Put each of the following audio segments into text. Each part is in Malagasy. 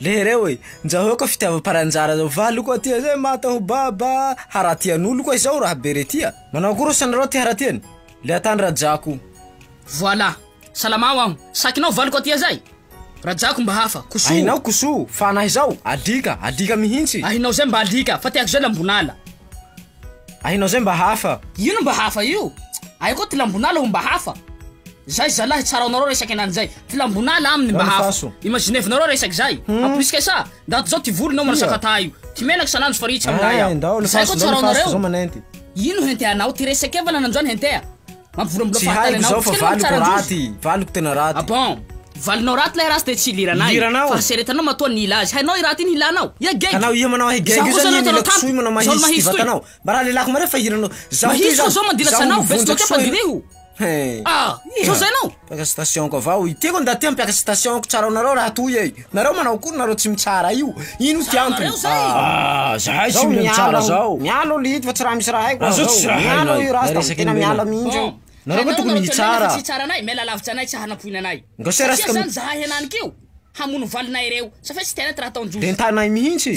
Lehereo e! Njahoeo ka fitiavam-paranjara zao valy koa tia zay mata ho baba haratian'olo koa izao raha be re tia. Manao akory osa nareo ty haratiany le atany rajako. Voilà. Salama ho'aho. Sakinao valy koa tia zay? Rajako mba hafa. Kosoa. Ahinao kosoa, fa anah izao, alika, alika mihintsy. Ahinao zay mba alika, fa tiako zay lambon'ala. Hainao zay mba hafa. Ino mba hafa io? Ay koa tilambonala ho mba hafa. Zay zalahy tsara anareo resaky anany zay. Tilambonala aminy mba hafa. Imaginez nareo resaky zay. En plus kay sa ndaty zao ty volonao manasaka taio. Ty menaka sananjo fa ritra milay aho. Zay koa tsara anareo. Ino hentea anao? Ty resaky evanana anjo any hentea. Tsy haiko zao fa valiko raty, valiko tena raty. Ah bon? Valinao raty lay ratsy de tsy iliranay. Iliranao? Fa seretanao matoa ny hila azy. Hainao i raty iny hilanao. Ia geg. Anao ia manao ahy geg io zany iny ilako soa io manao mahitsy ty vatanao. Mba raha lelako marefo fa hiranao. Mahitsy koa zao mandilatra anao, betso bakeo fa diniho. Hein. Ah! Zao zay anao. Mpiaka station ko avao i. Tiako ny ndaty an mpiaka station ko tsara anareo raha toy e. Nareo manao akory nareo tsy mitsara io. Ino ty antony? Ahh zahay tsy mila mitsara zao. Miala olo ito fa tsy raha misy raha haiko aza zao. Miala io rasta fa tena miala mihintsy io. Nareo ko tokony hitsara. Nga se rasta mi. Hamono valonay reo. Sa fe tsy tena ty raha ataon'i Jojo. Entanay mihintsy.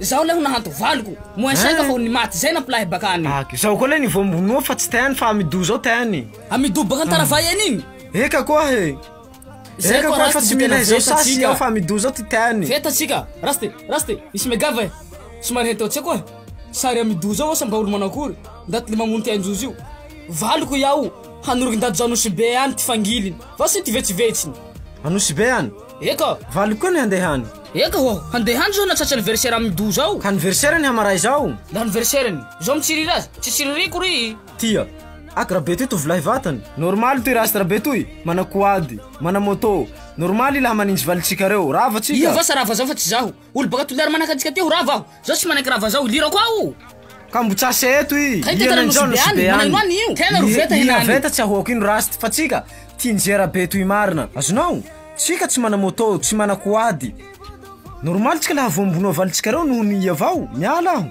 Zaho lay ho nahanto valiko. Moins cinq Hein? fa ho ny maty zay nampilay baka any. Ak, zaho koa lay ny vao minoa fa tsy te any fa Amidou zao te any. Amidou baka Antaravay any iny. Eka koa he. Zay Eka koa koa fa Rasty tsy mila tena izao veta sasy tsika. aho fa Amidou zao ty te any. Veta tsika. Rasty, Rasty, nisy megava e. Somary henteo tsy koa. Sary Amidou zao asa mba olo manao akory. Ndaty le mamono ty Anjozo io. Valiko iaho, hanoroky ndaty zao Anosibe any ty fangiliny. Vao sy ty vetsivetsiny. Anosibe any? Eka. Valo koa ny handeha any. Eka ho'o, handeha any zao na tratry anniversaire amin'i Doux zao. Ka anniversaire ny hamaray izao. Ny anniversaire-ny. Zao mitsiriry azy. Tsy tsiririko ry. Tia. Ak rabe toy tovolahy vatany. Normal toy rast rabe toy, mana quad, mana moto. Normal i lahy maninjy valintsika reo. Rava tsika. Iha va sa rava zao fa tsy zaho. Olo baka toliary manaka antsika teo rava aho zao tsy manaiky rava zao ilirako aho Ka mbo tsase eto i Kay tena Iana injao nosy be any Manahino io Tena ro veta Iana henany veta tsy ahoako ino Rust fa tsika tia nizera be toy marina Azonao? Tsika tsy mana moto tsy mana quad Normal tsika laha voambono avalitsikareo noho ny iavao Miala aho